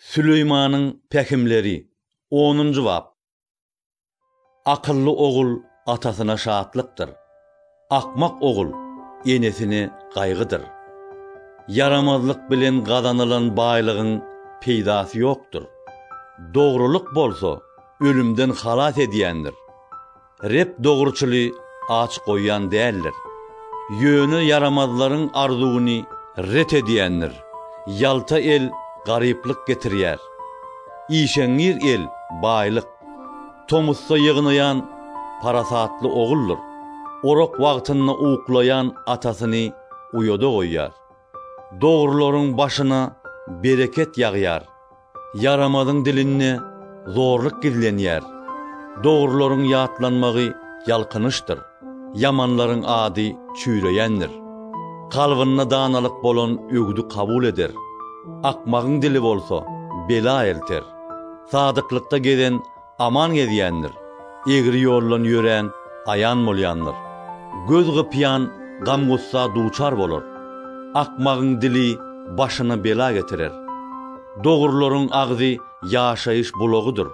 Süleýmanyň pähimleri, onunjy bap. Akylly ogul atasyna şatlykdyr, akmak ogul enesine gaýgydyr. Ýaramazlyk bilen gazanylan baýlygyň peýdasy ýokdur, dogrulyk bolsa ölümden halas edýändir. Reb dogruçyly aç goýýan däldir. Ýöne ýaramazlaryň arzuwyny ret edýändir. Ýalta el garyplyk getirýär. Işeňňir el, baýlyk. Tomusda ýygnaýan parasatly oguldyr. Orak wagtynda uklaýan atasyny uýada goýýar. Dogrularyň başyna bereket ýagýar, ýaramazyň dilinde zorluk gizlenýär. Dogrularyň ýatlanmagy ýalkynyşdyr, ýamanlaryň ady çüýreýändir. Kalbynda danalyk bolan öwüdi kabul eder, akmagyň dili bolsa bela elter. Sadyklykda gezen Aman gezýändir. Egri ýoldan ýörän aýan bolýandyr. Göz gypýan gam-gussa duçar bolar. Akmagyň dili başyna bela getirer. Dogrularyň agzy ýaşaýyş bulagydyr.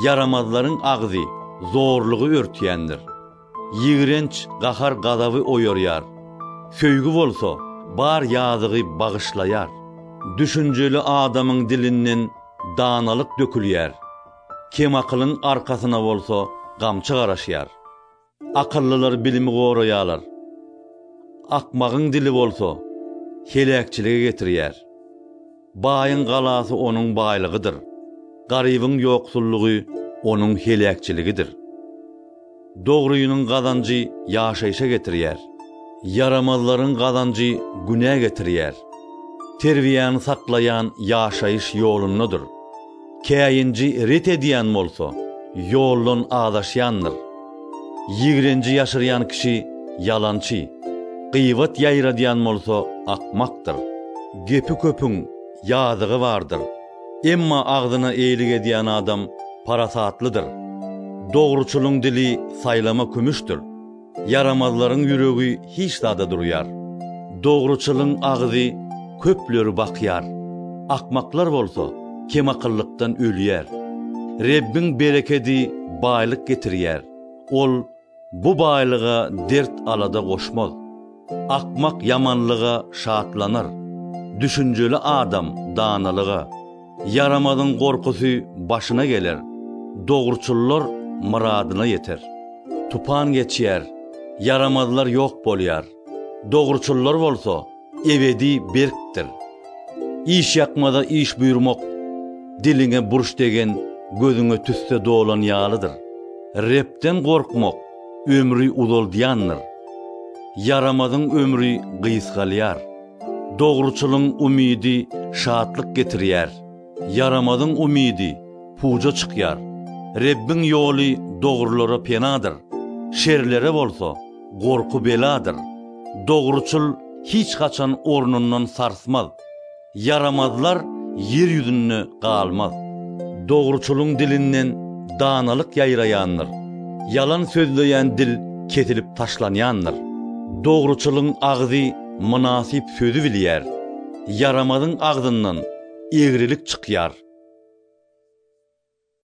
Ýaramazlaryň agzy zorlugy örtýändir. Ýigrenç gahar-gazaby oýarýar. Söýgi bolsa, bar ýazygy bagyşlaýar. Düşünjeli adamyň dilinden danalyk dökülýär. Kemakylyň arkasyna bolsa gamçy garaşýar. Akyllylar bilimi goraýarlar. Akmagyň dili bolsa, heläkçilige getirýär. Baýyň galasy onuň baýlygydyr, garybyň ýoksullygy onuň heläkçiligidir. Dogrynyň gazanjy ýaşaýşa getirýär, ýaramazlaryň gazanjy günä getirýär. Terbiýäni saklaýan ýaşaýyş ýolundadyr. Käýinji ret edýän bolsa, ýoldan azaşýandyr. Ýigrenji ýaşyrýan kişi ýalançy, gybat ýaýradýan bolsa akmakdyr. Gepi köpüň ýazygy bardyr, emma agzyna eýlik edýän adam parasatlydyr. Dogruçylyň dili saýlama kümüşdir. Ýaramazlaryň ýüregi hiç zada durýar. Dogruçylyň agyzy köpleri bakýar, akmaklar bolsa kemakyllykdan ölýär. Rebbiň berekedi baýlyk getirýär, Ol bu baýlyga dert-alada goşmaz. Akmak ýamanlyga şatlanar, düşünjeli adam danalyga. Ýaramazyň gorkusy başyna geler, dogruçyllar myradyna ýeter. Tupan geçýär, ýaramazlar ýok bolýar, dogruçyllar bolsa ebedi berkdir. Işýakmaza iş buýurmak diliňe burç degen gözüňe tüsse dolan ýalydyr. Rebden gorkmak ömri uzaldýandyr. Ýaramazyň ömri gysgalýar. Dogruçylyň umydy şatlyk getirýär, ýaramazyň umydy puja çykýar. Rebbiň ýoly dogrulara penadyr, şerlere bolsa gorky-beladyr. Dogruçyl hiç haçan ornundan sarsmaz, ýaramazlar ýer ýüzünde galmaz. Dogruçylyň dilinden danalyk ýaýraýandyr, ýalan sözleýän dil kesilip taşlanýandyr. Dogruçylyň agzy Mynasyp sözi bilýär. Ýaramazyň agzyndan egrilik çykýar.